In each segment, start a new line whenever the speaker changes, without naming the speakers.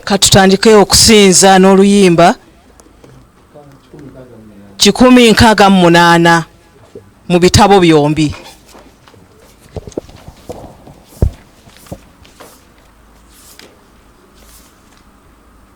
katutandike okusinza n'oluyimba kikumi nkaaga mu munaana mu bitabo byombi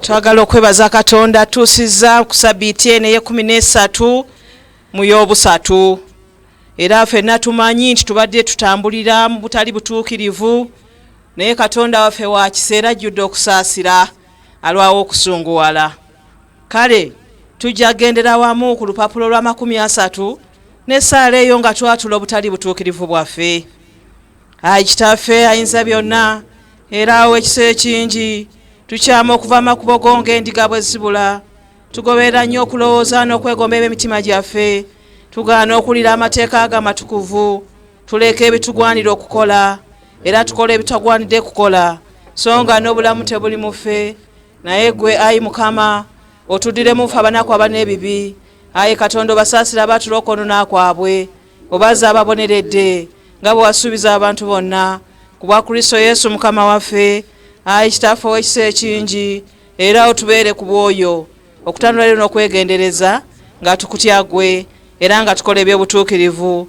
twagala okwebaza katonda atuusizza ku sabiiti eno eyekumi nesatu mu yobusatu era fenna tumanyi nti tubadde tutambulira mu butali butuukirivu naye katonda waffe wa kiseera ajjudde okusaasira alwawo okusunguwala kale tujja gendera wamu ku lupapula olwa makumi asatu n'essaala eyo nga twatula obutali butuukirivu bwaffe ayi kitaffe ayinza byonna era awo ekisa ekingi tukyama okuva amakubo go ng'endiga bwe zibula tugoberera nnyo okulowooza n'okwegomba eb'emitima gyaffe tugaana okuwulira amateeka ago amatukuvu Tuleka ebitugwanira okukola era tukola ebitagwanidde kukola, so nga n'obulamu tebuli mufe. Naye gwe ayi Mukama, otudire mufe abanaku abana ebibi. Ayi Katonda, obasaasira abaatula okwonona kwabwe, obaza ababoneredde nga bwe wasuubiza abantu bonna, ku bwa Kristo Yesu Mukama waffe. Ayi Kitaffe ow'ekisa ekingi, era otubeere ku bwoyo okutanula lero n'okwegendereza nga tukutya gwe era nga tukola eby'obutuukirivu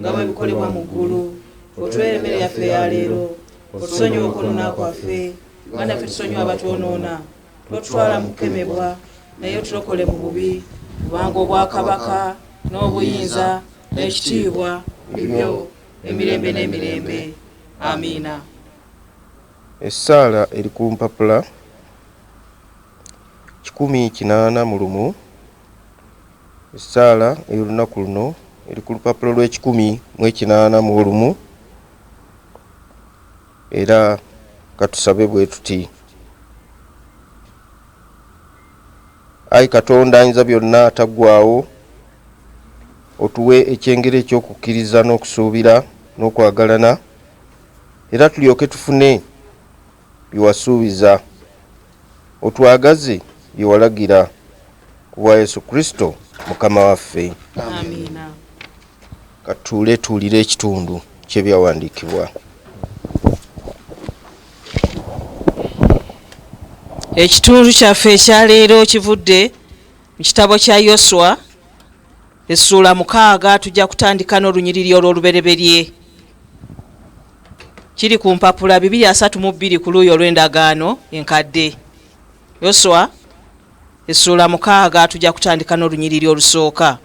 nga bwe bikolebwa mu ggulu otuweere emmere yaffe eya leero otusonyiwe okwonoona kwaffe nga naffe tusonyiwa abatwonoona totutwala mu kukemebwa naye otulokole mu bubi kubanga obwakabaka n'obuyinza n'ekitiibwa bibyo emirembe n'emirembe amiina essaala
eri ku mpapula kikumi kinaana mu lumu Essaala ey'olunaku luno eri ku lupapula lw'ekikumi mu ekinaana mu olumu era katusabe bwe tuti ayi katonda ayinza byonna ataggwawo otuwe ekyengera eky'okukkiriza n'okusuubira n'okwagalana era tulyoke tufune byewasuubiza Otwagaze bye walagira. Ku bwa Yesu Kristo Mukama waffe. Amiina. Katuule tuwulire ekitundu ky'ebyawandiikibwa.
Ekitundu kyaffe ekya leero kivudde mu kitabo kya Yoswa Essuula mukaaga tujja kutandika n'olunyiriri olw'olubereberye. Kiri ku mpapula bibiri asatu mu bbiri ku luuyi olw'endagaano enkadde. Yoswa essuula mukaaga tujja kutandika n'olunyiriri olusooka.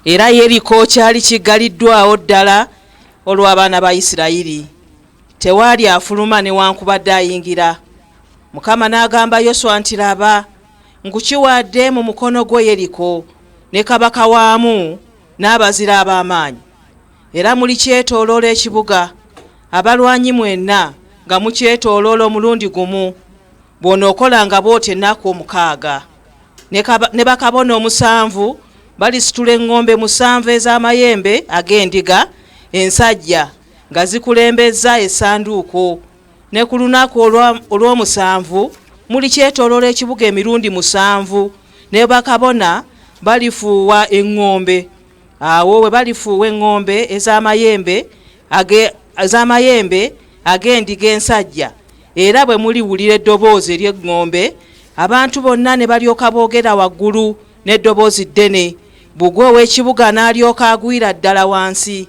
Era Yeriko kyali kiggaliddwawo ddala olw'abaana ba Isirayiri. Tewaali afuluma newankubadde ayingira. Mukama n'agamba Yoswa nti, Laba! nkukiwadde mu mukono gwo Yeriko ne kabaka waamu n'abazira ab'amaanyi, era mulikyetooloola ekibuga, abalwanyi mwenna nga mukyetooloola omulundi gumu. Bw'onookolanga bw'otyo ennaku omukaaga, ne bakabona omusanvu balisitula eŋŋombe musanvu ez'amayembe ag'endiga ensajja nga zikulembezza essanduuko ne ku lunaku olw'omusanvu mulikyetooloola ekibuga emirundi musanvu ne bakabona balifuuwa eŋŋombe awo we balifuuwa eŋŋombe ez'amayembe ez'amayembe ag'endiga ensajja era bwe muliwulira eddoboozi ery'eŋŋombe abantu bonna ne balyoka boogera waggulu n'eddoboozi ddene bugwe ow'ekibuga n'alyoka agwira ddala wansi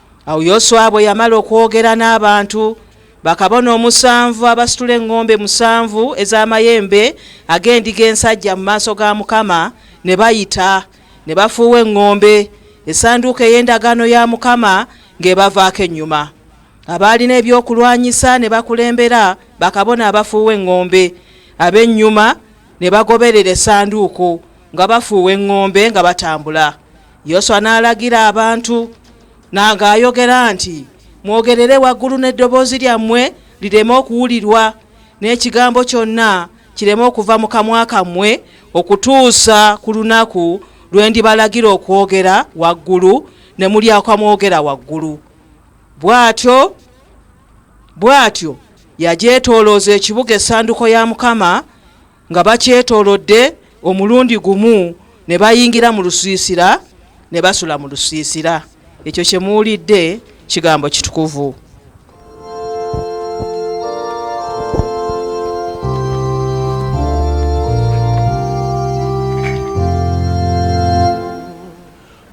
Awo Yoswa bwe yamala okwogera n'abantu, bakabona omusanvu abasitula eŋŋombe musanvu ez'amayembe ag'endiga ensajja mu maaso ga Mukama ne bayita, ne bafuuwa eŋŋombe, essanduuko ey'endagaano ya Mukama ng'ebavaako ennyuma. Abaalina ebyokulwanyisa ne bakulembera bakabona abafuuwa eŋŋombe, ab'ennyuma ne bagoberera essanduuko nga bafuuwa eŋŋombe nga batambula. yoswa n'alagira abantu nanga ayogera nti mwogerere waggulu n'eddoboozi lyammwe lireme okuwulirwa n'ekigambo kyonna kireme okuva mu kamwa kammwe okutuusa ku lunaku lwe ndibalagira okwogera waggulu ne mulyakwa mwogera waggulu bw'atyo bw'atyo yagyetoolooza ekibuga essanduko ya mukama nga bakyetoolodde omulundi gumu ne bayingira mu lusiisira ne basula mu lusiisira ekyo kye muwulidde kigambo kitukuvu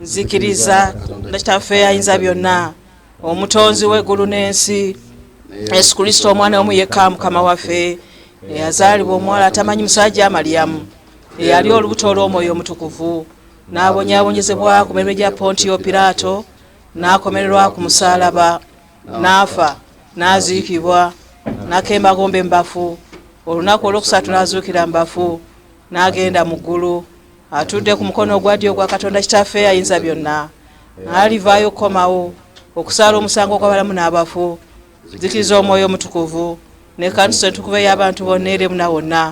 nzikiriza na kitaffe ayinza byonna omutonzi w'eggulu n'ensi yesu kristo omwana omu yekka mukama waffe eyazaalibwa omuwala atamanyi musajja amalyamu eyali olubuto olw'omwoyo omutukuvu n'abonyabonyezebwa ku mirimo gya pontiyo piraato n'akomererwa ku musaalaba n'afa n'aziikibwa n'akembagomba embafu olunaku olwokusatu n'azuukira mbafu n'agenda mu ggulu atudde ku mukono ogwa ddyo ogwa katonda kitaffe ayinza byonna alivaayo okukomawo okusaala omusango gw'abalamu n'abafu zikiriza omwoyo omutukuvu ne kanisa entukuvu ey'abantu bonna eri muna wonna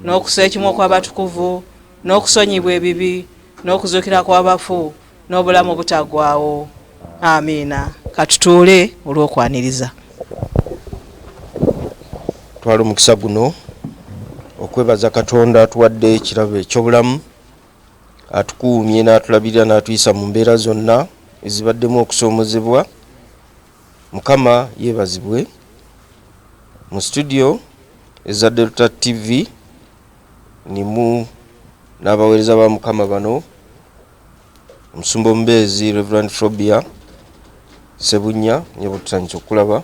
n'okusa ekimu okw'abatukuvu n'okusonyibwa ebibi n'okuzuukira kw'abafu n'obulamu obutagwawo amiina katutuule olw'okwaniriza
twala omukisa guno okwebaza katonda atuwadde ekirabo ekyobulamu atukuumye n'atulabirira n'atuyisa mu mbeera zonna ezibaddemu okusoomozebwa mukama yeebazibwe mu situdiyo eza delta tv nimu n'abaweereza ba mukama bano Omusumba omubeezi Rev. Frobia Ssebunnya nga bwetutandise okukulaba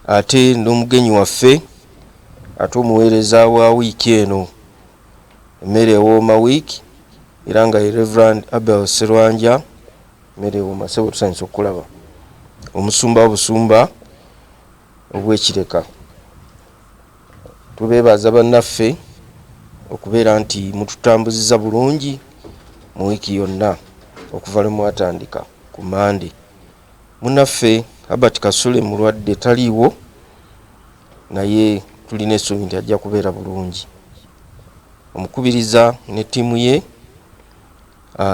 ate n'omugenyi waffe ate omuweereza wa wiiki eno emmere ewooma wiiki era nga ye Rev. Abel Sserwanja emmere ewooma ssebo tutandise okukulaba omusumba obusumba obw'ekireka Tubeebaza bannaffe okubeera nti mututambuziza bulungi mu wiiki yonna okuva lwe mwatandika ku Mmande. Munnaffe Herbert Kasule mulwadde taliiwo naye tulina essuubi nti ajja kubeera bulungi. Omukubiriza ne ttiimu ye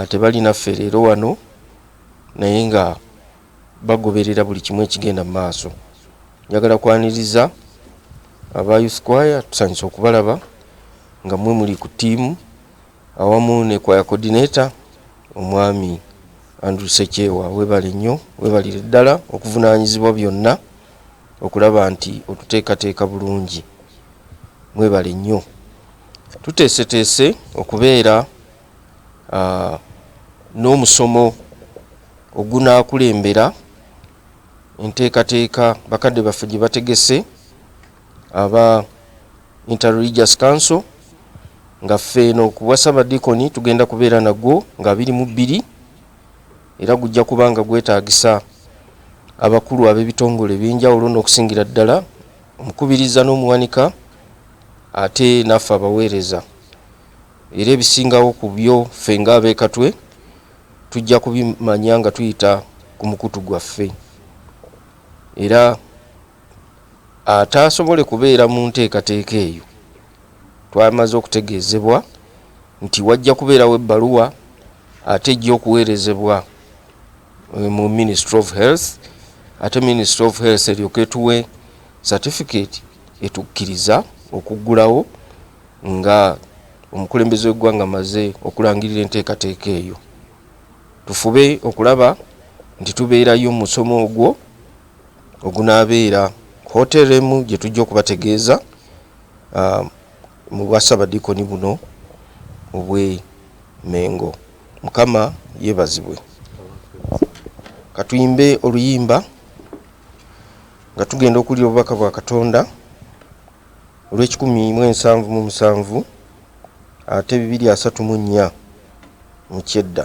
tebali naffe leero wano naye nga. bagoberera buli kimu ekigenda mu maaso. Njagala kwaniriza aba Youth Choir, tusanyuse okubalaba nga mwe muli ku ttiimu awamu ne Choir Coordinator omwami Andrew Sekyewa, webale nnyo, webalire ddala okuvunaanyizibwa byonna okulaba nti otuteekateeka bulungi. Mwebale nnyo. Tuteeseteese okubeera. n'omusomo ogunaakulembera enteekateeka bakadde baffe gye bategese aba Interreligious Council nga ffe eno ku bwa Ssabadiikoni tugenda kubeera nagwo nga abiri mu bbiri era gujja kuba nga gwetaagisa abakulu ab'ebitongole eby'enjawulo n'okusingira ddala omukubiriza n'omuwanika ate naffe abaweereza. Era ebisingawo ku byo ffe ng'ab'e Katwe tujja kubimanya nga tuyita ku mukutu gwaffe. Era ataasobole kubeera mu nteekateeka eyo, twamaze okutegeezebwa nti wajja kubeerawo ebbaluwa ate ejja okuweerezebwa mu Ministry of Health ate Ministry of Health eryoke etuwe satifikeeti etukkiriza okuggulawo Nga omukulembeze w'eggwanga maze okulangirira enteekateeka eyo, tufube okulaba nti tubeerayo musomo ogwo ogunaabeera ku hotel emu gye tujja okubategeeza mu bwa Ssabadiikoni buno obwe Mengo. Mukama yebazibwe. Katuyimbe oluyimba nga tugenda okuwulira obubaka bwa Katonda. olw'ekikumi mu ensanvu mu musanvu ate bibiri asatu mu nnya mu kyedda.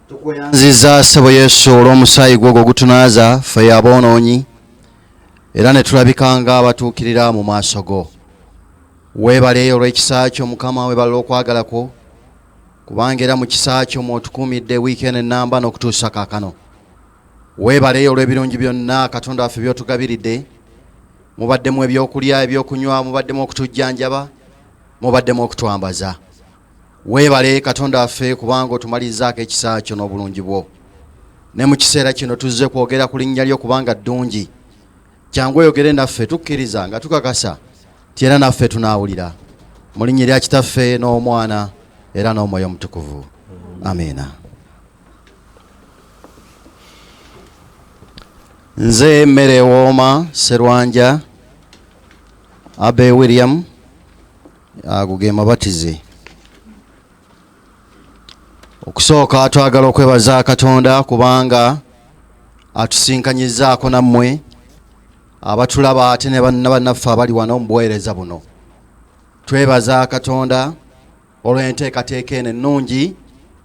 tukweyanziza sebo yesu olw'omusaayi gwo ogwo gutunaaza ffe yaboonoonyi era ne tulabika nga abatuukirira mu maaso go weebale olw'ekisa kyo mukama weebale okwagala kwo kubanga era mu kisa kyo mwotukuumidde wiiki eno ennamba n'okutuusa kaakano weebale olw'ebirungi byonna katonda waffe by'otugabiridde mubaddemu ebyokulya ebyokunywa mubaddemu okutujjanjaba mubaddemu okutwambaza Weebale Katonda waffe kubanga otumalizaako ekisa kyo n'obulungi bwo. Ne mu kiseera kino tuzze kwogera ku linnya lyo kubanga ddungi. Kyangu oyogere naffe tukkiriza nga tukakasa ti era naffe tunaawulira. Mu linnya erya Kitaffe n'Omwana era n'Omwoyo Omutukuvu. Amiina. Nze mmere ewooma Serwanja Abe William. ago ge mabatize okusooka twagala okwebaza katonda kubanga atusinkanyizaako nammwe abatulaba ate ne bannabannaffe abali wano mu buweereza buno twebaza katonda olw'enteekateeka eno ennungi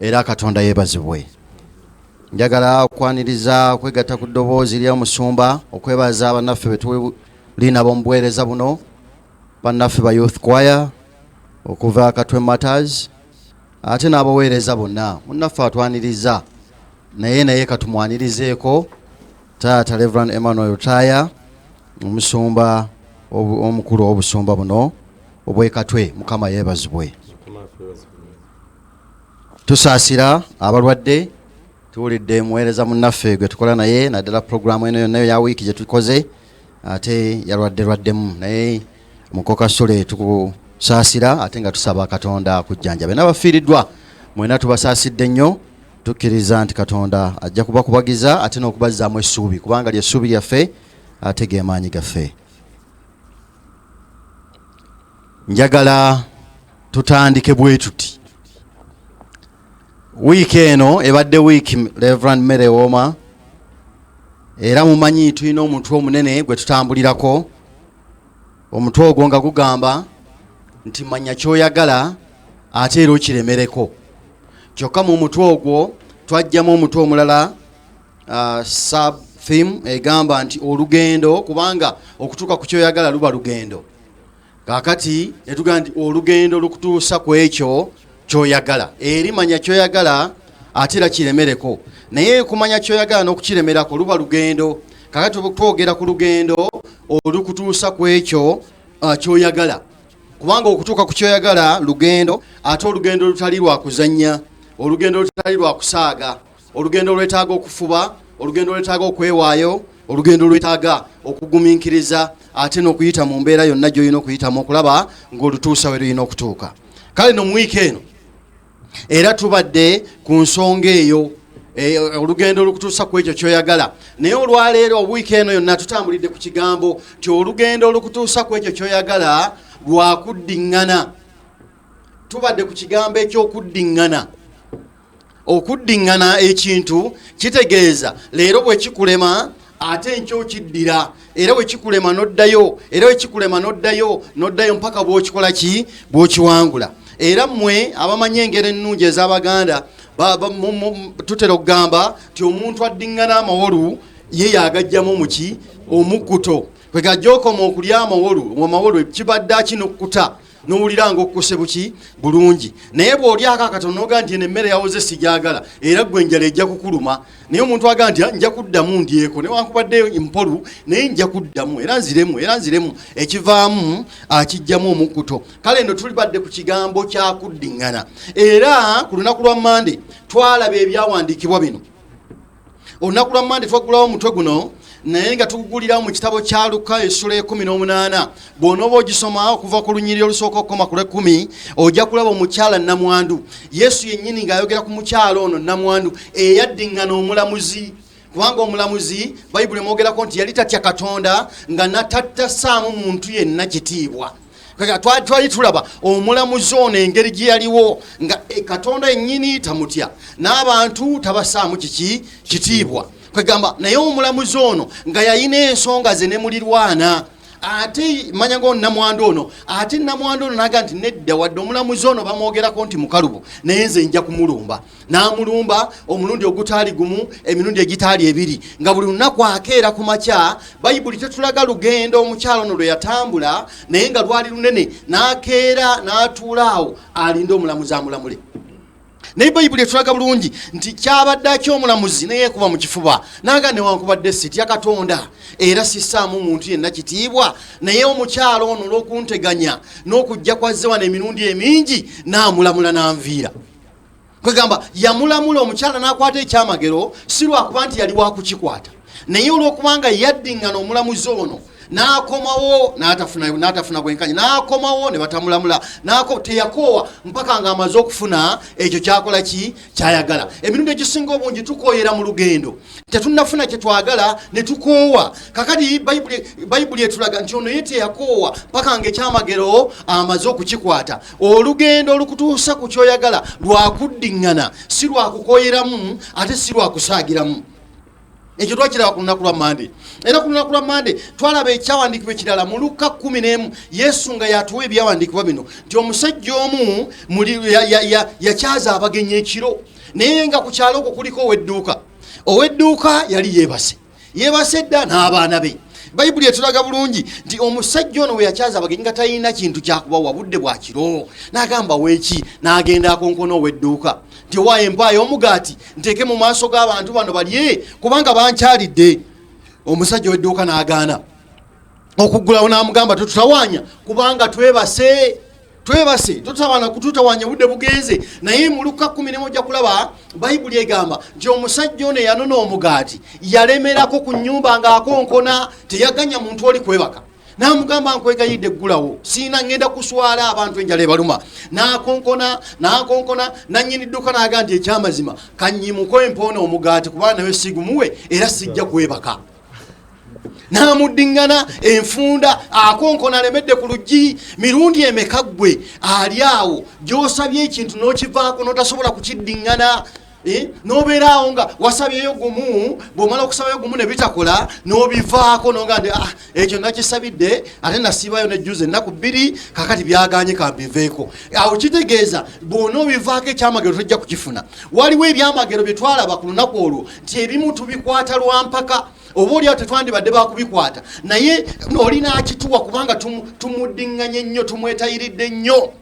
era katonda yeebazibwe njagala okwaniriza okwegatta ku ddoboozi ly'omusumba okwebaza abannaffe betulinabo mu buweereza buno bannaffe ba youth choir okuva katwe matters ate n'abaweereza bonna munnaffe atwaniriza naye naye katumwanirizeeko taata reverand emmanuel taya omusumba omukulu w'obusumba buno obwekatwe mukama yeebazibwe tusaasira abalwadde tuwulidde muweereza munnaffe gwe tukola naye naddala pulogulaamu eno yonna ya wiiki gye tukoze ate yalwadde lwaddemu naye mukoka sule tukusaasira ate nga tusaba katonda akujjanjabe n'abafiiriddwa mwena tubasaasidde nnyo tukkiriza nti katonda ajja kubakubagiza ate n'okubazzaamu essuubi kubanga lyessuubi lyaffe ate gemaanyi gaffe njagala tutandike bwetuti wiiki eno ebadde wiiki reverand mary woma era mumanyi tulina omutwe omunene gwe tutambulirako omutwe ogwo nga gugamba nti manya kyoyagala ate era okiremereko kyokka mu mutwe ogwo twajjamu omutwe omulala uh, sub theme egamba nti olugendo kubanga okutuuka ku kyoyagala luba lugendo kakati netugaa nti olugendo lukutuusa ku ekyo kyoyagala eri manya kyoyagala ate era kiremereko naye kumanya kyoyagala n'okukiremerako luba lugendo kakati twogera ku lugendo olukutuusa ku ekyo uh, kyoyagala kubanga okutuuka ku kyoyagala lugendo ate olugendo olutali lwakuzannya olugendo olutali lwakusaaga olugendo olwetaaga okufuba olugendo olwetaaga okwewaayo olugendo olwetaaga okugumiikiriza ate n'okuyita mu mbeera yonna gy'olina okuyitamu okulaba ng'olutuusa we lulina okutuuka kale no mu wiiki eno era tubadde ku nsonga eyo Eh, olugendo olukutuusa ku ekyo kyoyagala naye olwaleero obuwiiki eno yonna tutambulidde ku kigambo ti olugendo olukutuusa ku ekyo kyoyagala lwakuddiŋŋana tubadde ku kigambo ekyokuddiŋŋana okuddiŋŋana ekintu kitegeeza leero bwe kikulema ate enkya okiddira era bwe kikulema n'oddayo era bwe kikulema n'oddayo n'oddayo mpaka bw'okikola ki bw'okiwangula era mmwe abamanyi engeri ennungi ez'abaganda tutera okugamba nti omuntu addiŋŋana amawolu ye yagajjamu muki omukkuto kwegajja okoma okulya amawolu omawolu kibadde akinokukuta nowulira nga okukose buki bulungi naye bw'olyako akatono noga nti eno emmere yawoze sigyagala era gwe enjala ejja kukuluma naye omuntu aga nti ah, nja kuddamu ndyeko newankubadde mpolu naye nja kuddamu era nziremu era nziremu ekivaamu akijjamu omukkuto kale ndo tuli badde ku kigambo kyakuddiŋŋana era ku lunaku lwa mande twalaba ebyawandiikibwa bino olunaku lwa mande twaggulawo omutwe guno naye nga tugugulirawo mu kitabo kya luka essula ekumi n'omunaana bw'onooba ogisoma okuva ku lunyiriri olusooka okukoma ku lw'ekkumi ojja kulaba omukyala namwandu yesu yennyini ng'ayogera ku mukyala ono namwandu eyaddiŋŋana omulamuzi kubanga omulamuzi bayibuli emwogerako nti yali tatya katonda nga natatta saamu muntu yenna kitiibwa twali tulaba omulamuzi ono engeri gye yaliwo nga eh, katonda ennyini tamutya n'abantu tabasaamu kiki kitiibwa kwegamba naye omulamuzi ono nga yalina ensonga ze ne mulirwana ate manya ngo namwandu ono ate namwandu ono naga nti nedda wadde omulamuzi ono bamwogerako nti mukalubo naye nze nja kumulumba n'amulumba omulundi ogutaali gumu emirundi egitaali ebiri nga buli lunaku akeera ku makya bayibuli tetulaga lugendo omukyalo no lwe yatambula naye nga lwali lunene n'akeera n'atuula awo alinde omulamuzi amulamule naye bayibuli etulaga bulungi nti kyabadde akyomulamuzi naye kuba mu kifuba naga newankubadde sitya katonda era sisaamu muntu yenna kitiibwa naye omukyalo ono olw'okunteganya n'okujja kwazze wano emirundi emingi naamulamula n'anviira kwegamba yamulamula omukyala nakwata ekyamagero si lwakuba nti yali wakukikwata naye olwokubanga yaddingana omulamuzi ono nakomawo natafuna bwenkanya nakomawo nebatamulamula teyakoowa mpaka nga amaze okufuna ekyo kyakola ki kyayagala emirundi egisinga obungi tukoyera mu lugendo tetunafuna kyetwagala netukoowa kakati bayibuli etulaga nti ono ye teyakoowa mpaka nga ekyamagero amaze okukikwata olugendo olukutuusa ku kyoyagala lwakuddiŋŋana si lwakukoyeramu ate si lwakusaagiramu ekyo twakiraba ku lunaku lwa mande era ku lunaku lwa mande twalaba ekyawandiikibwa ekirala mu lukka 1 yesu nga yatuwa ebyawandiikibwa bino nti omusajja omu yakyaza abagenyi ekiro naye nga ku kyalo okwo kuliko owedduuka owedduuka yali yeebase yebase dda n'abaana be bayibuli etulaga bulungi nti omusajja ono weyakyaza abagenyi nga talina kintu kyakubawa budde bwakiro nagamba weki nagenda akonkona owedduuka nti owaayo empaayo omugaati nteeke mu maaso g'abantu bano balye kubanga bankyalidde omusajja owedduuka nagaana okuggulawo namugamba tetutawanya kubanga twebase twebase totawana kututawanya budde bugenze naye mu luka kumi nemu ojja kulaba bayibuli egamba nti omusajja ono eyanona omugaati yalemerako ku nyumba ngaakonkona teyaganya muntu oli kwebaka namugamba nkwegayidde eggulawo siina ngenda kuswala abantu enjala ebaluma nakonkona nakonkona nanyini dduka naga nti ekyamazima kanyimuko empoona omugaati kuba nawe sigumuwe era sijja kwebaka n'amuddiŋŋana enfunda akonkona alemedde ku luggi mirundi emeka ggwe ali awo gy'osabye ekintu n'okivaako n'otasobola kukiddiŋŋana eh, n'obeera awo nga wasabyeyo gumu bw'omala okusabayo gumu ne bitakola n'obivaako nonga nti ah, ekyo nakisabidde ate nasiibayo nejjuza ennaku bbiri kakati byaganye kambiveeko awo kitegeeza bwona obivaako ekyamagero tojja kukifuna waliwo ebyamagero bye twalaba ku lunaku olwo nti ebimu tubikwata lwampaka oba olyawo tetwandibadde bakubikwata naye olina akituwa kubanga tumuddinganye nnyo tumwetayiridde nnyo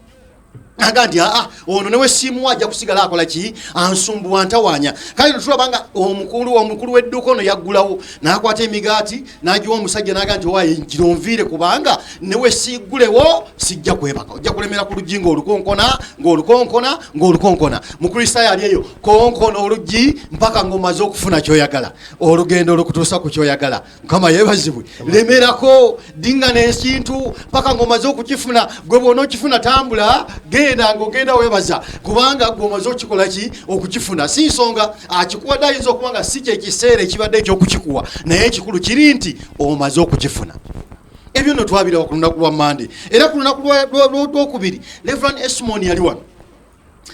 aga nti aa ono newesiimuwa ajja kusigala akola ki ansumbuwa ntawanya kale tulaba nga omukulu omukulu w'edduuka ono yaggulawo n'akwata emigaati nagiwa omusajja naga nti owaye njira onviire kubanga newe siigulewo sijja kwebaka ojja kulemera ku luggi ngaolukonkona ngaolukonkona ngaolukonkona mukristaayo ali eyo konkona oluggi mpaka ngaomaze okufuna kyoyagala olugendo olukutuusa ku kyoyagala mukama yebazibwe lemerako dingana ekintu mpaka ngaomaze okukifuna gwe bwona okifuna tambula genda ngaogenda webaza kubanga gwe omaze okukikola ki okukifuna si nsonga akikuwadde ayinza okuba nga si kyekiseera ekibadde ekyokukikuwa naye ekikulu kiri nti omaze okukifuna ebyo no twabirawa ku lunaku lwa mande era ku lunaku lwokubiri reverand esmon yali wano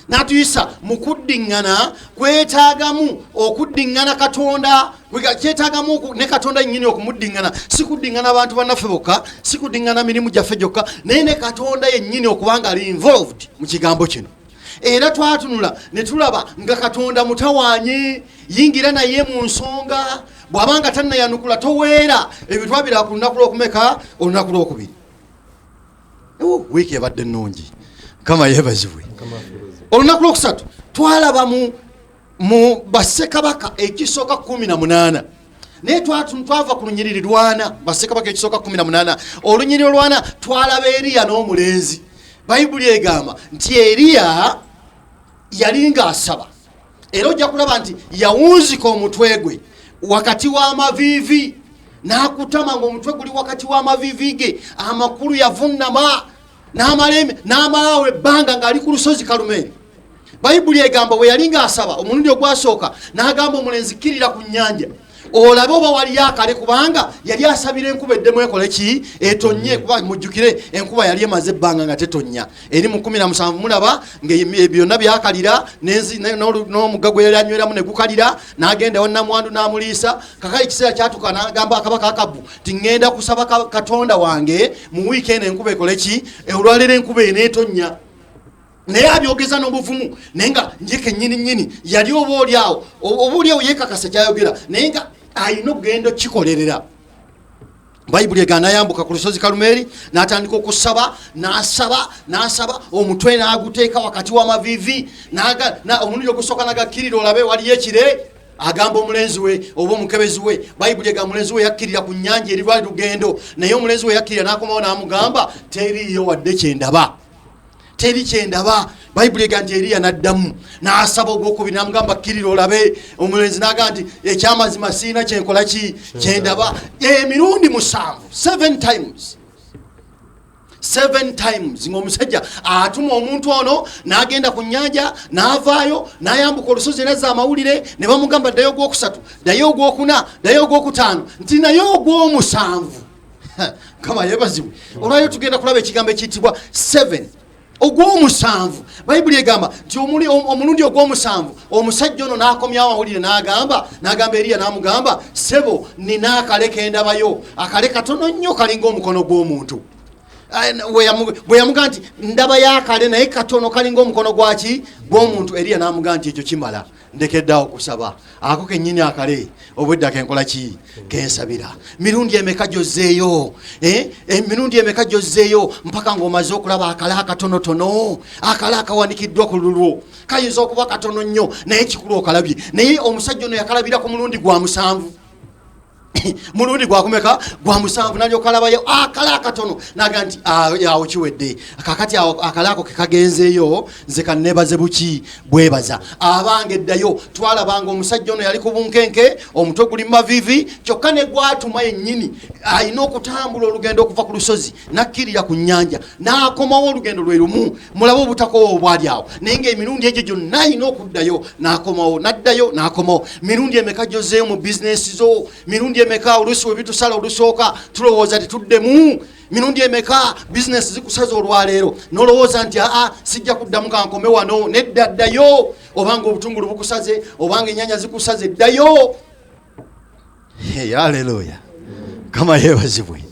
natuyisa mu kuddiŋŋana kwetaagamu okuddiŋŋana katonda kyetaagamu ne katonda nyini okumuddiŋŋana si kuddiŋŋana abantu bannaffe bokka si kuddiŋŋana mirimu gyaffe gyokka naye ne katonda yennyini okubanga ali involved mu kigambo kino era twatunula ne tulaba nga katonda mutawaanye yingira naye mu nsonga bw'aba nga tannayanukula toweera ebyo twabira ku lunaku lw'okumeka olunaku lw'okubiri wiiki ebadde ennungi kama yeebazibwe olunaku lw'okusatu twalabamu mu basekabaka ekisooka kumi na munaana naye twava ku lunyiriri lwana basekabaka ekisooka kumi na munaana olunyiriri olwana twalaba eriya n'omulenzi bayibuli egamba nti eriya yali ng'asaba era ojja kulaba nti yawunzika omutwe gwe wakati w'amaviivi n'akutama ng'omutwe guli wakati w'amaviivi ge amakulu yavunnama n'amalembe n'amalaawo ebbanga ng'ali ku lusozi kalumeeri bayibuli egamba bwe yali ng'asaba omulundi ogwasooka n'agamba omulenzi kkirira ku nnyanja olabe oba waliyo akale kubanga yali asabira enkuba eddemu ekole ki etonye kuba mujjukire enkuba yali emaze ebbanga nga tetonya eri mu kumi na musanvu mulaba nga byonna byakalira n'omugga gwe yali anyweramu ne gukalira n'agenda wannamwandu n'amuliisa kakali ekiseera kyatuka n'agamba akabaka akabu nti ŋŋenda kusaba katonda wange mu wiiki eno enkuba ekole ki olwaleero enkuba eneetonya naye abyogeza n'obuvumu naye nga njeke nyini nyini yali oba oli awo oba oli awo yekakasa kyayogera naye nga alina okugenda okukikolerera bayibuli ega nayambuka ku lusozi kalumeeri natandika okusaba nasaba nasaba omutwe naguteeka wakati wamavivi omulundi ogusooka nagakkirira olabe waliyo ekire agamba omulenzi we oba omukebezi we bayibuli ega mulenzi we yakkirira ku nyanja eri lwali lugendo naye omulenzi we yakkirira nakomawo namugamba teriiyo wadde kyendaba teri kyendaba bayibuli ega nti eriya naddamu nasaba ogwokubi namugamba kkirira olabe omulenzi naga nti ekyamazima siina kyenkola ki kyendaba emirundi musanvu seven times seven times ngaomusajja atuma omuntu ono nagenda ku nyanja navaayo nayambuka olusozi nazza amawulire ne bamugamba ddayo ogwokusatu ddayo ogwokuna ddayo ogwokutaano nti naye ogwomusanvu kama yebazibwe olwayo tugenda kulaba ekigambo ekiyitibwa 7 ogwomusanvu bayibuli egamba nti omulundi ogwomusanvu omusajja ono nakomyawo awulire nagamba nagamba eriya namugamba sebo nina akale kendabayo akale katono nnyo kalinga omukono gw'omuntu bwe yamuga nti ndaba yakale naye katono kalinga omukono gwaki gwomuntu eriya namuga nti ekyo kimala ndekeddeawo okusaba ako kenyini akale obwedda kenkola ki kensabira mirundi emeka gyozzeeyo eh? eh, mirundi emeka gyozzeeyo mpaka ngaomaze okulaba akala akatonotono akala akawanikiddwa ku lulwo kayinza okuba katono nnyo naye kikulu okalabye naye omusajja ono yakalabira ku mulundi gwa musanvu mulundi gwakumeka gwa musanvu nalyoka alabayo akala akatono naga nti ah, awo kiwedde kakati awo akala ako kekagenzeeyo nze kanebaze buki bwebaza abange eddayo twalabanga omusajja ono yali ku bunkenke omutwe guli mumavivi kyokka ne gwatuma yennyini alina okutambula olugendo okuva ku lusozi nakkirira ku nnyanja n'akomawo olugendo lwe lumu mulabe obutakoowa obwali awo naye ng'emirundi egyo gyonna alina okuddayo n'akomawo n'addayo n'akomawo mirundi emeka gyozeeyo mu bizinesi zo mirundi emeka oluusi we bitusala olusooka tulowooza tetuddemu mirundi emeka bizinesi zikusaza olwaleero nolowooza nti aa sijja kuddamu kankome wano nedda ddayo obanga obutungulu bukusaze obanga enyanya zikusaze ddayo Hey, haleluya kama yebazibwe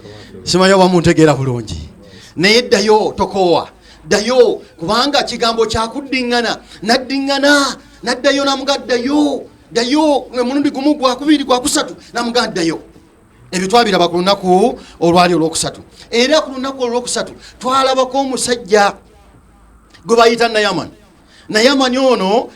simanyi oba muntegeera bulungi naye ddayo tokoowa ddayo kubanga kigambo kyakuddiŋŋana naddiŋŋana naddayo namuga ddayo ddayo emulundi gumu gwakubiri gwakusatu namuga ddayo ebyo twabiraba ku lunaku olwali olwokusatu era ku lunaku olwokusatu twalabako omusajja gwe bayita nayaman naye amanyi ono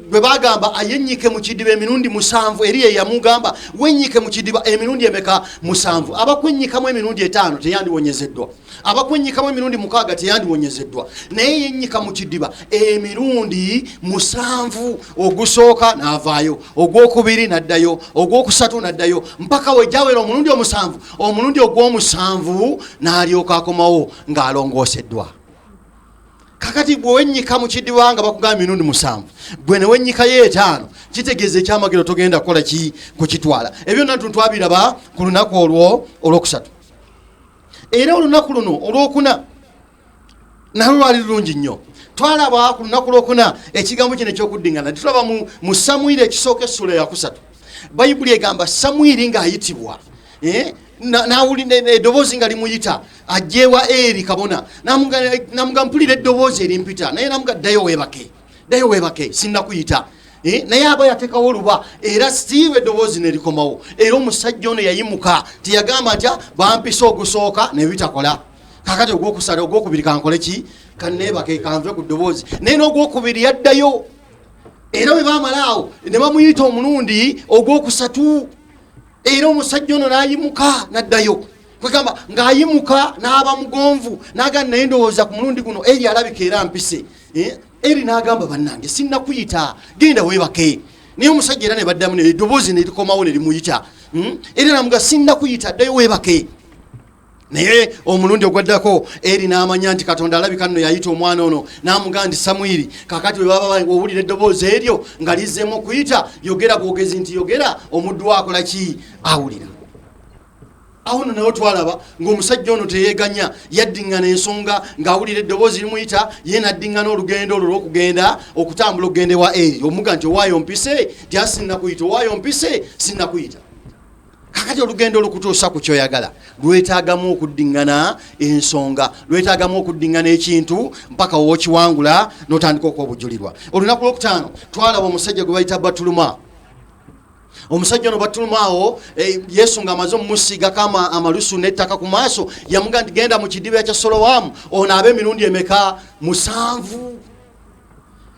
bwe bagamba ayenyike mu kidiba emirundi musanvu eri eyamugamba wenyike mu kidiba emirundi emeka musanvu abakwenyikamu emirundi etaano teyandiwonyezeddwa abakwenyikamu emirundi mukaaga teyandiwonyezeddwa naye yenyika mu kidiba emirundi musanvu ogusooka n'avaayo ogwokubiri n'addayo ogwokusatu n'addayo mpaka wejawera omulundi omusanvu omulundi ogwomusanvu n'alyoka akomawo ng'alongooseddwa kakati gwe wenyika mu kidiba nga bakugamba mirundi musanvu gwe ne wenyikayo etaano kitegeeza ekyamagero togenda kukola ki kukitwala ebyo natu twabiraba ku lunaku olwo olwokusatu era olunaku luno olwokuna nalwo lwali lulungi nnyo twalaba ku lunaku lwokuna ekigambo kino ekyokuddingana titulaba mu samwiri ekisooka essula yakusatu bayibuli egamba samwiri ng'ayitibwa Eh? nawulira eddoboozi nga limuyita ajjeewa eri kabona namuga mpulira eddoboozi erimpita naye namuga ddayo webake ddayo webake sinnakuyita eh? naye aba yatekawo oluba era siiba eddoboozi nerikomawo era omusajja ono yayimuka teyagamba nti ah, bampisa ogusooka nebitakola kakati ogwokusala ogwokubiri kankole ki kanebake kanve ku ddoboozi naye n'ogwokubiri yaddayo era bwe bamalaawo ne bamuyita omulundi ogwokusatu era omusajja ono n'ayimuka n'addayo kwegamba ng'ayimuka n'aba mugonvu n'agamba naye ndowooza ku mulundi guno eri alabika era mpise eh, eri n'agamba bannange sinnakuyita genda weebake naye omusajja era ne baddamu neddoboozi nerikomawo ne limuyita hmm? era namuga sinnakuyita ddayo weebake naye omulundi ogwaddako eri n'amanya nti katonda alabika nno yayita omwana ono n'amugamba nti samwiri kakati bwe baba owulira eddoboozi eryo nga lizzemu okuyita yogera bwogezi nti yogera omuddu wakola ki awulira awo no nawe twalaba ng'omusajja ono teyeganya yaddingana ensonga ng'awulira eddoboozi limuyita ye naddingana olugendo olwo lwokugenda okutambula okugenda ewa eri omuga nti owaayo mpise nti asinna kuyita owaayo mpise sinna kuyita kakati olugendo olukutuusa ku kyoyagala lwetagamu okuddingana ensonga lwetagamu okuddingana ekintu mpaka wokiwangula notandika okuba obujulirwa olunaku lwokutaano twalaba omusajja gwe bayita batuluma omusajja ono batulumaawo eh, yesu nga amaze omumusiigako amalusu nettaka ku maaso yamuga nti genda mu kidiba kya solowamu onaabe emirundi emeka musanvu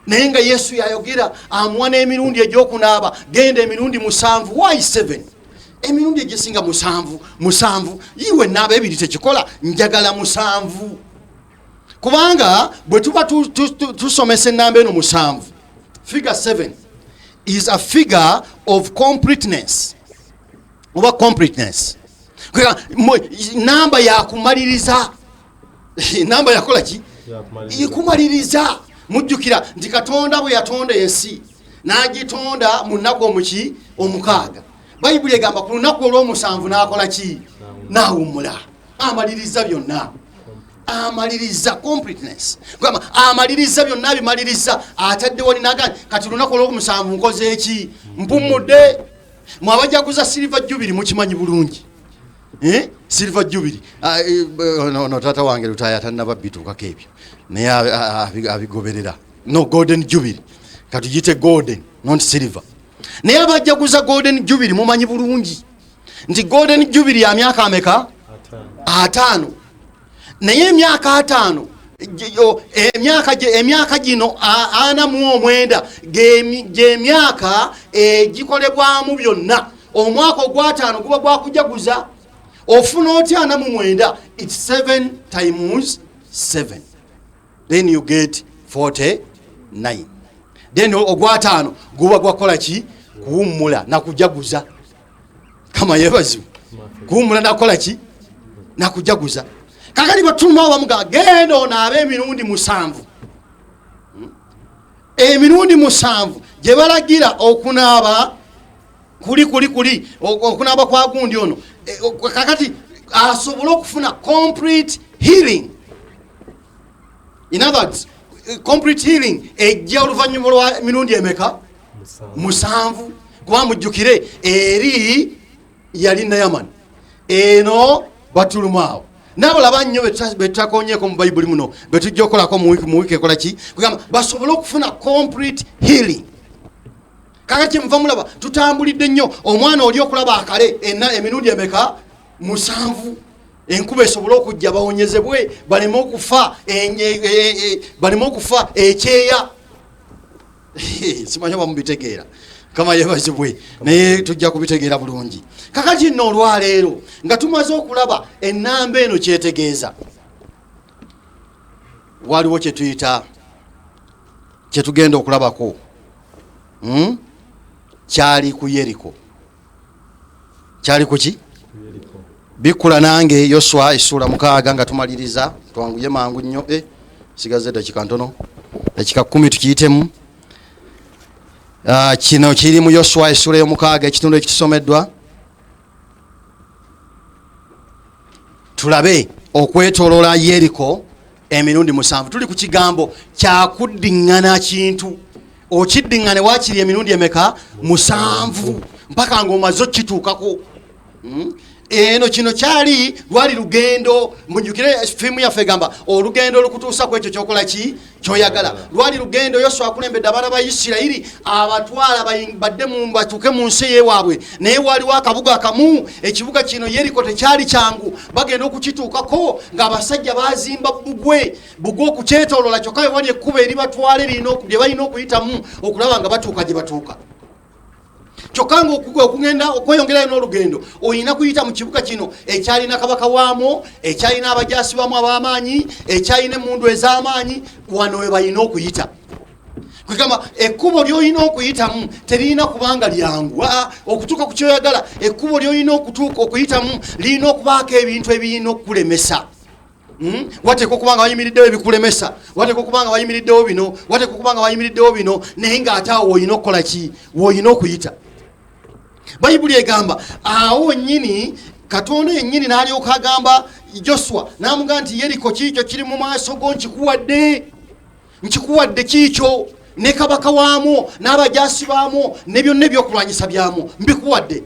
naye nga yesu yayogera amuwa n'emirundi egyokunaaba genda emirundi musanvu y 7 emirundi egisinga musanvu musanvu iwe naaba ebiri tekikola njagala musanvu kubanga bwe tuba tusomesa enamba eno musanvu figure 7 is a figure of completeness oba completeness namba yakumaliriza namba yakola ki ikumaliriza mujjukira nti katonda bwe yatonda ensi n'agitonda mu nnaku omuki omukaaga bayibuli egamba ku lunaku olw'omusanvu n'akola ki n'awummula amaliriza byonna amaliriza completeness gamba amaliriza byonna abimaliriza ataddewo ninaga kati lunaku olw'omusanvu nkoze eki mpummudde mwabajaguza silver jubiri mukimanyi bulungi Eh? silver jubiri ah, eh, eh, no, no, tata wange lutaya tanaba bituukako ebyo naye ah, ah, abigoberera no golden jubiri katugite golden not silver naye abajaguza golden jubiri mumanyi bulungi nti golden jubiri ya myaka ameka ataano naye emyaka ataano emyaka gino ana mu omwenda gyemyaka egikolebwamu eh, byonna omwaka ogwataano guba gwakujaguza ofuna otya ana mu mwenda its seven times seven then you get 49 then ogwataano guba gwakukola ki kuwummula nakujaguza kama yebazibu kuwumula nakola ki nakujaguza kakati batuma bamuga genda onaabe emirundi musanvu hmm? emirundi musanvu gyebalagira okunaaba kuli kuli kuli okunaaba kwa gundi ono e, kakati asobole okufuna complete healing in other words complete healing ejja oluvannyuma lwa mirundi emeka musanvu kuba mujjukire eri yali nayamani eno batulumu awo nabo laba nnyo betutakonyeeko mu bayibuli muno betujja okolako mu wiiki ekola ki kugamba basobole okufuna complete healing kaka kyemuva mulaba tutambulidde nnyo omwana oli okulaba akale ena emirundi emeka musanvu enkuba esobole okujja bawonyezebwe baleme okufa e, e, e, baleme okufa ekyeya simanyi oba mubitegeera kama yebazibwe naye tujja kubitegeera bulungi kakati nno olwaleero nga tumaze okulaba enamba eno kyetegeeza waliwo kyetuyita kyetugenda okulabako hmm? kyali ku yeriko kyali kuki bikula nange yoswa esuula mukaaga nga tumaliriza twanguye mangu nnyo e eh, sigaze dakika ntono dakika kumi tukiyitemu ah, kino kiri mu yoswa esuula eyomukaaga ekitundu ekitusomeddwa tulabe okwetolola yeriko emirundi musanvu tuli ku kigambo kyakuddiŋŋana kintu okiddiŋŋane wakiri emirundi emeka musanvu mpaka ngaomaze okukituukako hmm? eno kino kyali lwali lugendo mujukire fiimu yaffe egamba olugendo olukutuusa ku ekyo kyokola ki kyoyagala lwali lugendo yoswa akulembedde abaana ba isirayiri abatwala badde batuuke mu nsi eyewaabwe naye waaliwo akabuga kamu ekibuga kino yeriko tekyali kyangu bagenda okukituukako ng'abasajja bazimba bugwe bugwe okukyetolola kyokka wewali ekkuba eri batwale lye balina okuyitamu okulaba nga batuuka gye batuuka kyokka nga okugenda okweyongerayo n'olugendo olina kuyita mu kibuga kino ekyalina kabaka waamwo ekyalina abajasi bamu ab'amaanyi ekyalina emundu ez'amaanyi wano we balina okuyita kwegamba ekkubo lyolina okuyitamu teririna kubanga lyangu aa okutuuka ku kyoyagala ekkubo lyolina okutuuka okuyitamu lirina okubaako ebintu ebirina okukulemesa hmm? wateeka okuba nga wayimiriddewo ebikulemesa wateeka okuba nga wayimiriddewo bino wateeka okuba nga wayimiriddewo bino naye ng'ate awo woyina okukola ki woyina okuyita bayibuli egamba awo nyini katonda yennyini n'alyoka agamba joswa n'amugamba nti yeriko kiikyo kiri mu maaso go nkikuwadde nkikuwadde kiikyo ne kabaka waamu n'abajaasi baamu ne byonna ebyokulwanyisa byamu mbikuwadde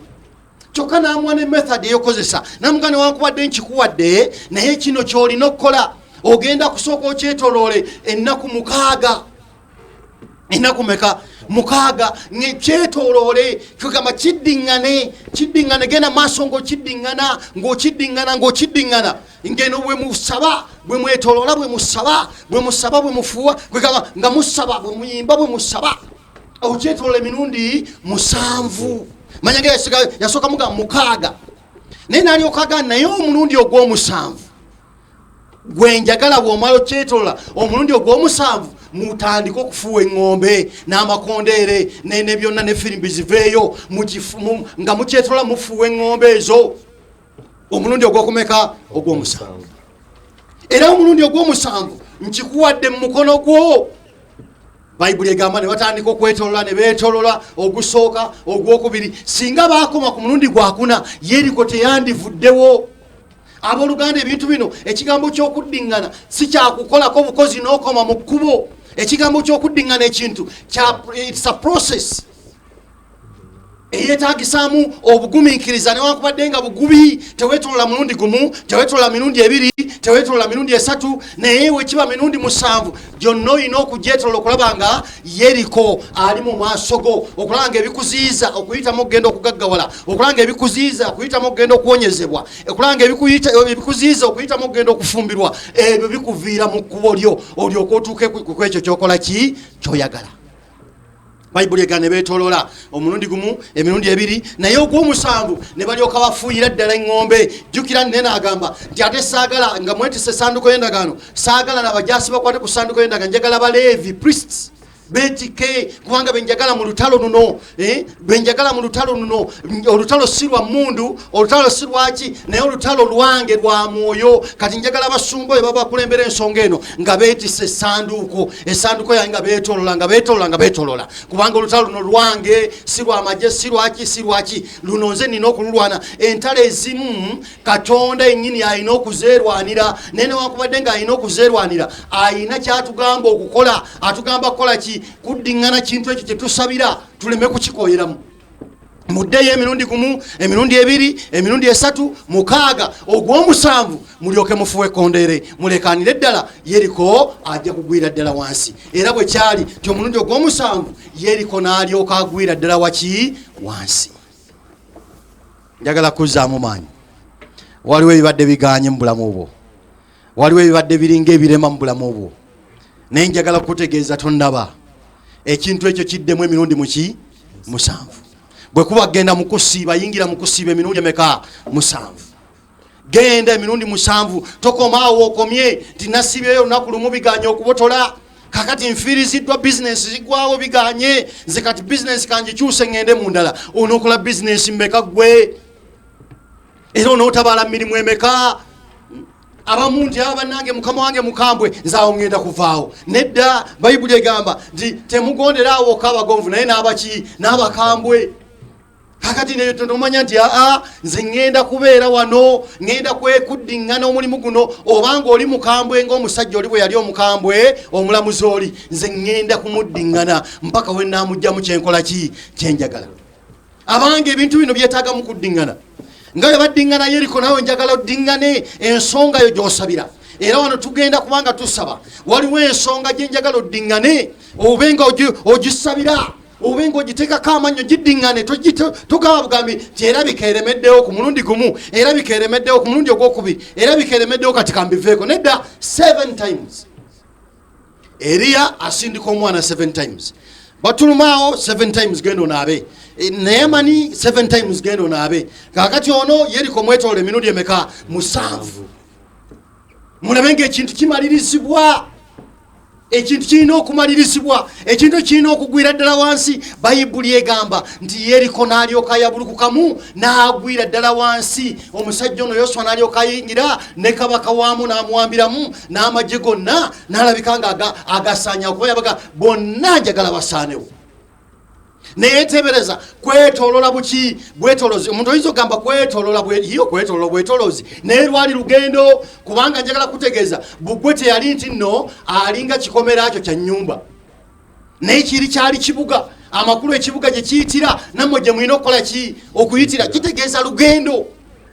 kyokka n'amuwa ne method eyokozesa namuga newankubadde nkikuwadde naye kino ky'olina okukola ogenda kusooka okyetoloole ennaku mukaaga ennaku meka mukaaga ngekyetoloole kigamba kiddiŋŋane kiddiŋŋane genda maaso ng'okiddiŋŋana ng'okiddiŋŋana ng'okiddiŋŋana ngeno bwe musaba bwe mwetoloola bwe musaba bwe musaba bwe mufuuwa kwegamba nga musaba bwe muyimba bwe musaba okyetolola emirundi musanvu manya nga yasooka muga mukaaga naye nalyokaga naye omulundi ogwomusanvu gwenjagala bwomala okyetolola omulundi ogwomusanvu mutandike okufuuwa eŋŋombe n'amakondeere ne byonna ne firimbi ziveeyo nga mukyetolola mufuuwa eŋŋombe ezo omulundi ogwokumeka ogwomusanvu era omulundi ogwomusanvu nkikuwadde mu mukono gwo bayibuli egamba ne batandika okwetolola ne beetolola ogusooka ogwokubiri singa baakoma ku mulundi gwakuna yeriko teyandivuddewo abooluganda ebintu bino ekigambo ky'okuddiŋŋana si kyakukolako obukozi n'okoma mu kkubo ekigambo ky'okuddiŋŋana ekintu it's a process eyetagisaamu obugumiikiriza newankubadde nga bugubi tewetolola mulundi gumu tewetolola mirundi ebiri tewetolola mirundi esatu naye wekiba mirundi musanvu gyonna olina okujetolola okulaba nga yeriko ali mu maaso go okulaba nga ebikuziiza okuyitamu okugenda okugaggawala okulaba nga ebikuziiza okuyitamu okugenda okuwonyezebwa okulaba nga ebikuziiza okuyitamu okugenda okufumbirwa ebyo bikuviira mu kkubo lyo olyoka otuuke kwekyo kyokola ki kyoyagala bayibuli egana nebetolola omulundi gumu emirundi ebiri naye ogwomusanvu ne balyoka bafuuyira ddala eŋŋombe jjukira nene agamba nti ate saagala nga mwetisa esanduko y'endagaano saagala nabajasi bakwate ku sanduko y'endagaano njagala baleevi priests betike kubanga benjagala mu lutalo luno eh, lwenjagala mu lutalo luno olutalo si lwa mundu olutalo si lwaki naye olutalo lwange lwa mwoyo kati njagala abasumba oyo babakulembera ensonga eno nga betisa esanduuko esanduuko yange nga betolola nga betolola nga betolola kubanga olutalo luno lwange si lwamaje si lwaki si lwaki luno nze nina okululwana entalo ezimu katonda enyini alina okuzerwanira naye newakubadde nga alina okuzerwanira alina kyatugamba okukola atugamba kukola ki kuddingana kintu ekyo kyetusabira tuleme kukikoyeramu muddeyo emirundi gumu emirundi ebiri emirundi esatu mukaaga ogwomusanvu mulyoke mufuwe kondere mulekanire ddala yeriko ajja kugwira ddala wansi era bwe kyali ti omulundi ogwomusanvu yeriko n'alyoka agwira ddala waki wansi njagala kuzzaamu maanyi waliwo ebibadde biganye mu bulamu bwo waliwo ebibadde biringa ebirema mu bulamu bwo naye njagala kukutegeeza tondaba ekintu ekyo kiddemu emirundi muki musanvu bwe kuba genda mu kusiiba yingira mu kusiiba emirundi emeka musanvu genda emirundi musanvu tokomaawo okomye nti nasiibyeyo olunaku lumu biganye okubotola kakati nfiiriziddwa bizinensi zigwawo biganye nze kati bizinensi kangikyuse ŋŋende mu ndala onookola bizinensi mmeka ggwe era onootabaala mu mirimu emeka abamu nti aba ah, bannange mukama wange mukambwe nzaawo ŋŋenda kuvaawo nedda bayibuli egamba nti temugondera awokka abagonvu naye n'abaki n'abakambwe kakati neyo tonomanya nti aa ah, ah, nze ŋŋenda kubeera wano ŋŋenda kwekuddiŋŋana omulimu guno obanga oli mukambwe ngaomusajja oli bwe yali omukambwe omulamuzi oli nze ŋŋenda kumuddiŋŋana mpaka we naamugjamu kyenkola ki kyenjagala abange ebintu bino byetaaga mu kuddingana nga bwe baddingana yeriko nawe njagala oddingane ensonga yo gyosabira era wano tugenda kubanga tusaba waliwo ensonga gyenjagala oddingane obe nga ogisabira obe nga ogiteekako amannyo giddingane togaba bugambi nti era bikeeremeddewo ku mulundi gumu era bikeeremeddewo ku mulundi ogwokubiri era bikeeremeddewo kati kambiveeko nedda 7 times Eriya asindika omwana 7 times. Batulumaawo 7 times gendo naabe. E, Neyamani 7 times gendo naabe. Kakati ono yeriko mwetole emirundi emeka musanvu. Mulabe nga ekintu kimalirizibwa. Ekintu kirina okumalirizibwa. ekintu kirina okugwira ddala wansi bayibuli egamba nti yeriko n'alyoka yabulukukamu n'agwira ddala wansi omusajja ono yoswa n'alyoka ayingira ne kabaka waamu n'amuwambiramu n'amagye gonna n'alabika nga agasaanya okuba yabaga bonna njagala basaanewo naye tebereza kwetolola buki bwetolozi omuntu oyinza okugamba kwetolola iyo kwetolola bwetolozi naye lwali lugendo kubanga njagala kutegeeza bugwe teyali nti nno alinga kikomera kyo kya nyumba naye kiri kyali kibuga amakulu ekibuga gye kiyitira nammwe gye mulina okukola ki okuyitira kitegeeza lugendo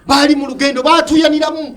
baali mu lugendo batuyaniramu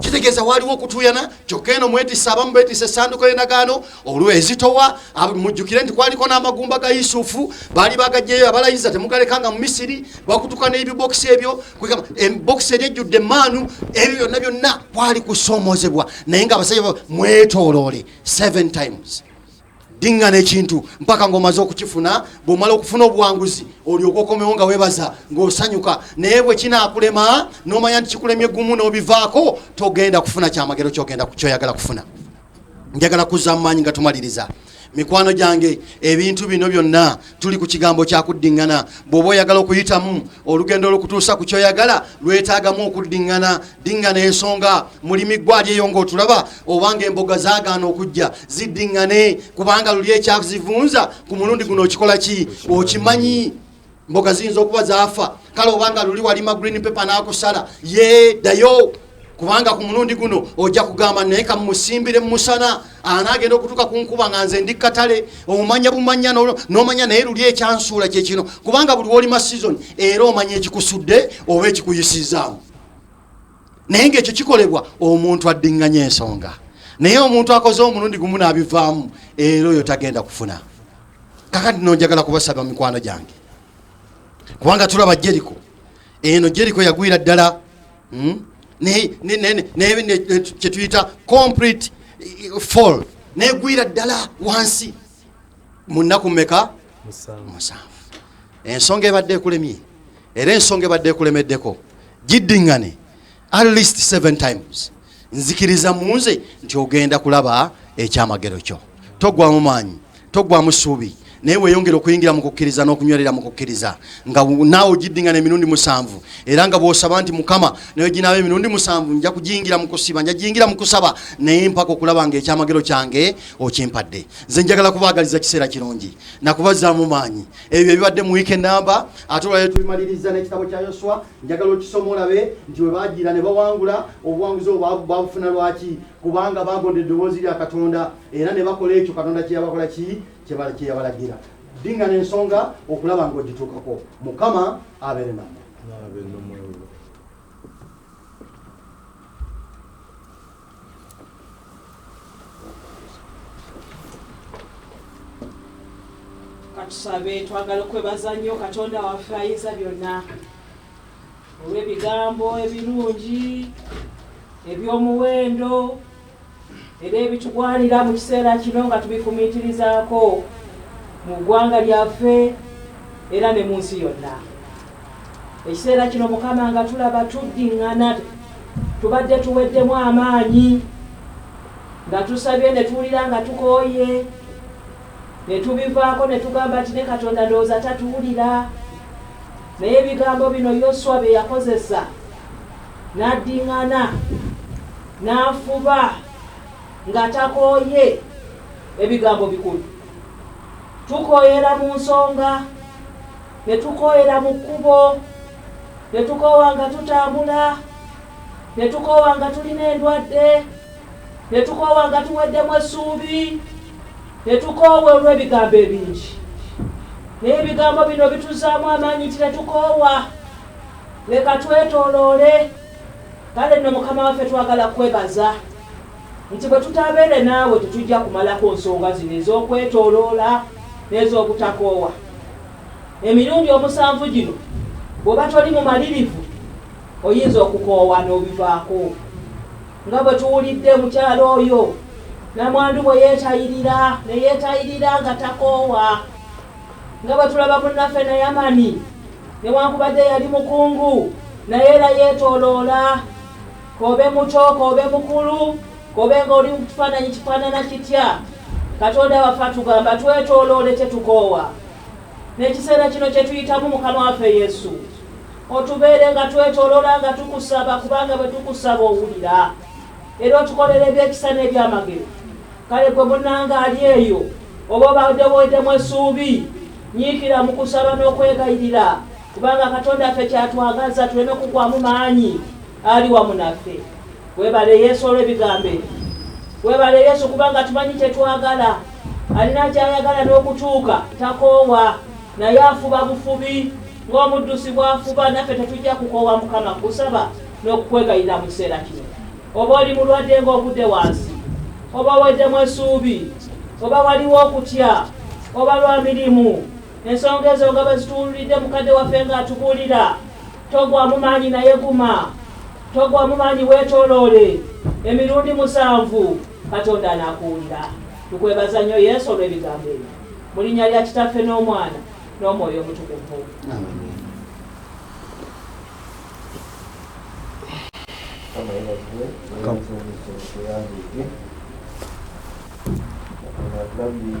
kitegeeza waaliwo okutuyana kyokka eno mwetisa abamu betisa esanduko y'endagaano olwezitowa mujjukire nti kwaliko n'amagumba ga yusufu baali bagajjeyo abalayiza temugalekanga mu misiri bakutuka n'ebibokisi ebyo bokisi eri ejjudde maanu ebyo byonna byonna kwali kusoomozebwa naye nga abasajja mwetoloole 7 times dingana ekintu mpaka ngaomaze okukifuna bwomala okufuna obuwanguzi olyoka okomewo nga webaza ngaosanyuka naye bwekinakulema nomanya nti kikulemye gumu nobivaako togenda kufuna kyamagero kyoyagala kufuna njagala kuza mumaanyi nga tumaliriza mikwano gyange ebintu bino byonna tuli ku kigambo kyakuddiŋŋana bw'oba oyagala okuyitamu olugendo olukutuusa ku kyoyagala lwetaagamu okuddiŋŋana diŋŋana ensonga mulimi ggwali eyo ng'otulaba obanga emboga zaagaana okujja ziddiŋŋane kubanga luli ekyazivunza ku mulundi guno okikola ki okimanyi mboga ziyinza okuba zaafa kale obanga luli walima green paper n'akusala ye ddayo kubanga ku mulundi guno ojja kugamba naye kamusimbire mumusana anaagenda okutuuka ku nkuba nga nze ndi katale omanya bumanya nomanya naye luli ekyansuula kyekino kubanga buli wolima season era omanya ekikusudde oba ekikuyisizaamu naye ngaekyo kikolebwa omuntu addinganya ensonga naye omuntu akoze omulundi gumu naabivaamu era oyo tagenda kufuna kakati nonjagala kubasaba mikwano gyange kubanga tulaba jeriko eno jeriko yagwira ddala hmm? kyetuyita complete eh, fall negwira ddala wansi munaku meka musanvu ensonga ebadde ekulemye era ensonga ebadde ekulemeddeko giddingane at least seven times nzikiriza mu nze nti ogenda kulaba ekyamagero kyo togwamu maanyi togwamu suubi naye weyongere okuyingira mu kukkiriza n'okunywerera mu kukkiriza nga naawe ogiddingana emirundi musanvu era nga bw'osaba nti mukama naye ginaaba emirundi musanvu nja kugiyingira mu kusiba nja giyingira mu kusaba naye mpaka okulaba nga ekyamagero kyange okimpadde nze njagala kubaagaliza kiseera kirungi nakubazzaamu maanyi ebyo ebibadde mu wiiki enamba ate olwalero tubimaliriza n'ekitabo kya yoswa njagala okisoma olabe nti bwe bagiira ne bawangula obuwanguzi obwo babufuna lwaki kubanga bagonda eddoboozi lya katonda era ne bakola ekyo katonda kyeyabakola ki kyeyabalagira dinga n'ensonga okulaba ng'ogituukako mukama abeere namu
katusabe twagala okwebaza nnyo katonda waffe ayinza byonna olw'ebigambo ebirungi eby'omuwendo era ebitugwanira mu kiseera kino nga tubifumiitirizaako mu ggwanga lyaffe era ne mu nsi yonna Ekiseera kino Mukama nga tulaba tuddiŋŋana, tubadde tuweddemu amaanyi nga tusabye ne tuwulira nga tukooye ne tubivaako ne tugamba nti ne Katonda ndowooza tatuwulira. Naye ebigambo bino Yoswa bye yakozesa n'addiŋŋana n'afuba nga takooye, ebigambo bikulu. Tukooyera mu nsonga ne tukooyera mu kkubo, ne tukoowa nga tutambula, ne tukoowa nga tulina endwadde, ne tukoowa nga tuweddemu essuubi, ne tukoowa olw'ebigambo ebingi. Naye ebigambo bino bituzaamu amaanyi nti ne tukoowa, leka twetooloole. Kale nno Mukama waffe twagala kukwebaza. nti bwe tutaabeere naawe tetujja kumalako nsonga zino ez'okwetooloola n'ez'obutakoowa emirundi omusanvu gino. Bw'oba toli mumalirivu oyinza okukoowa n'obivaako nga bwe tuwulidde mukyalo oyo namwandu bwe yeetayirira ne yeetayirira nga takoowa nga bwe tulaba munnaffe na yamani newankubadde yali mukungu naye era yeetooloola K'obe muto k'obe mukulu, k'obe ng'oli mu kifaananyi kifaanana kitya, Katonda waffe atugamba twetooloole tetukoowa. N'ekiseera kino kye tuyitamu, Mukama waffe Yesu, otubeere nga twetoolola nga tukusaba, kubanga bwe tukusaba owulira, era otukolera ebyekisa n'ebyamagero. Kale gwe munnanga ali eyo, oba obadde weddemu essuubi, nyiikira mu kusaba n'okwegayirira, kubanga Katonda waffe ky'atwagaza tuleme kugwamu maanyi. ali wamu naffe webale yesu olwebigambo ebyo webale yesu kubanga tumanyi kyetwagala alina kyayagala n'okutuuka takoowa naye afuba bufubi ng'omuddusi bwafuba naffe tetujja kukoowa mukama kusaba n'okukwegayira mu kiseera kino oba oli mulwadde ng'ogudde wansi oba weddemu esuubi oba waliwo okutya oba lwa mirimu ensonga ezo nga bwe zituwululidde mukadde waffe ng'atubuulira togwa mu maanyi naye guma togwa mu maanyi weetooloole emirundi musanvu katonda anaakuwulira tukwebaza nnyo yesu olw'ebigambo ebyo mu linnya lya kitaffe n'omwana n'omwoyo omutukuvu Come.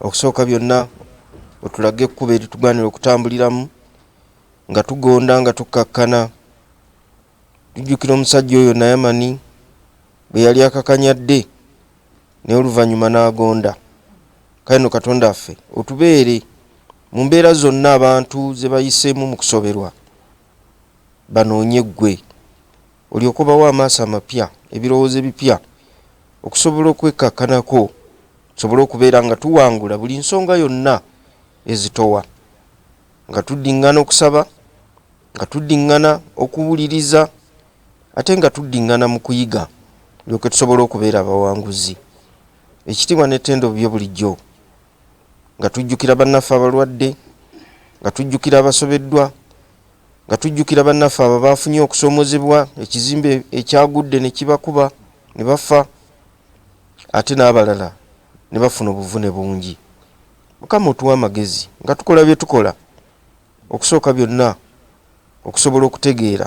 Okusooka byonna otulage ekkubo eritugwanira okutambuliramu nga tugonda nga tukkakkana. Tujjukira omusajja oyo Nayamani bwe yali akakanyadde naye oluvannyuma n'agonda. Kale no Katonda affe otubeere mu mbeera zonna abantu ze bayiseemu mu kusoberwa banoonye ggwe olyoke obawe amaaso amapya, ebirowoozo ebipya, okusobola okwekkakkanako, tusobole okubeera nga tuwangula buli nsonga yonna ezitowa, nga tuddiŋŋana okusaba, nga tuddiŋŋana okuwuliriza, ate nga tuddiŋŋana mu kuyiga, tulyoke tusobole okubeera abawanguzi. Ekitiibwa n'ettendo bibyo bulijjo, nga tujjukira bannaffe abalwadde, nga tujjukira abasobeddwa, Nga tujjukira bannaffe abo abaafunye okusoomozebwa, ekizimbe ekyagudde ne kibakuba ne bafa ate n'abalala ne bafuna obuvune bungi. Mukama otuwe amagezi nga tukola bye tukola okusooka byonna okusobola okutegeera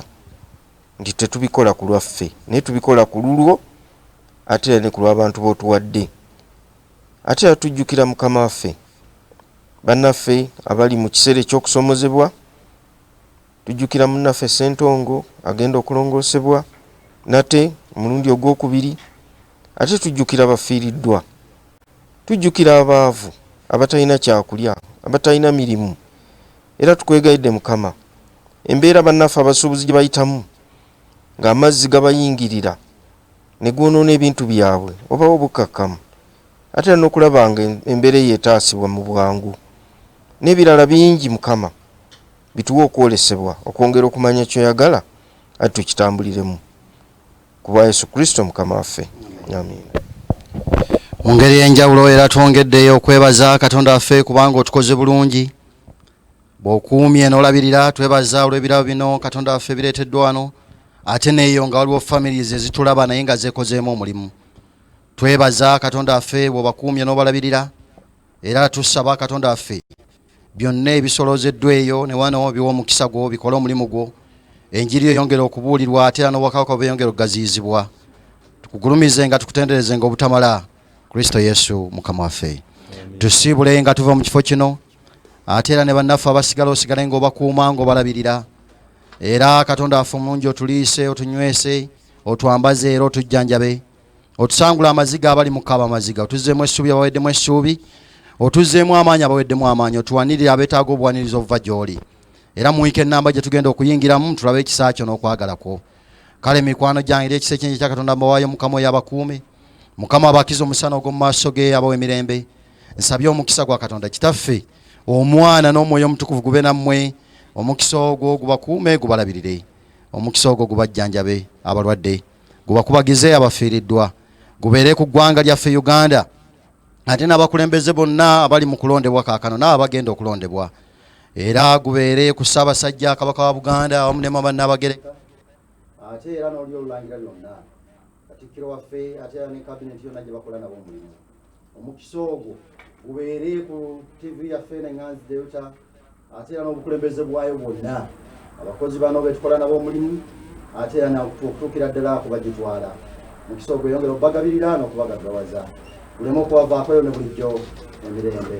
nti tetubikola ku lwaffe naye tubikola ku lulwo ate era ne ku lw'abantu b'otuwadde. Ate era tujjukira Mukama waffe, bannaffe abali mu kiseera eky'okusomozebwa, tujjukira munnaffe Ssentongo agenda okulongoosebwa nate omulundi ogw'okubiri, ate tujjukira abafiiriddwa, tujjukira abaavu abatalina kyakulya, abatalina mirimu, era tukwegayidde Mukama, embeera bannaffe abasuubuzi gye bayitamu ng'amazzi gabayingirira, ne gwonoona ebintu byabwe wabawo obukkakkamu ate era n'okulaba nga embeera eyo etaasibwa mu bwangu n'ebirala bingi Mukama bituwe okwolesebwa okwongera okumanya ky'oyagala ate tukitambuliremu ku bwa Yesu Kristo Mukama waffe amiina.
Mu ngeri ey'enjawulo era twongeddeyo okwebaza Katonda waffe kubanga otukoze bulungi bwokuumye nolabirira twebaza olwebirabo bino katonda waffe bireteddwa wano ate neeyo nga waliwo families ezitulaba naye nga zekozeemu omulimu twebaza katonda waffe bwobakuumye nobalabirira era tusaba katonda waffe byonna ebisolozeddwa eyo newano biwa omukisa gwo bikole omulimu gwo enjiri eyongere okubuulirwa ate era nobwakabaka bweyongere okugaziyizibwa tukugulumize nga tukutenderezenga obutamala kristo yesu mukama waffe tusiibule nga tuva mu kifo kino ate era ne bannaffe abasigala osigale nga obakuuma nga obalabirira era katonda waffe omulungi otuliise otunywese otwambaze era otujjanjabe otusangula amaziga abali mukaba amaziga otuzeemu essuubi abaweddemu essuubi otuzeemu amaanyi abaweddemu amaanyi otuwanirire abeetaaga obuwaniriza obuva gy'oli era muwike ennamba gye tugenda okuyingiramu tulabe ekisa kyo n'okwagala kwo kale mikwano gyange eri ekisa ekyenje kya katonda mbawaayo mukama oyo abakuume mukama abakiza omusana ogw'omu maaso ge abawa emirembe nsabye omukisa gwa katonda kitaffe omwana n'omwoyo omutukuvu gube nammwe omukisa ogwo gubakuume gubalabirire omukisa ogwo gubajjanjabe abalwadde gubakubagize abafiiriddwa gubeere ku ggwanga lyaffe uganda ate n'abakulembeze bonna abali mu kulondebwa kaakano n'abo abagenda okulondebwa era gubeere ku ssaabasajja kabaka wa buganda awamu ne mama nabagereka ate era noli olulangira lyonna katikkiro waffe ate era ne kabineti yonna gye bakola nabo omulimu omukisa ogwo gubeere ku ttivi yaffe nenganzi delta
ate era n'obukulembeze bwayo bwonna abakozi bano betukola nabo omulimu ate era okutuukira ddala kuba gitwala mukisa ogwo yongera okubagabirira n'okubagagawaza buleme okubavaako yo ne bulijjo emirembe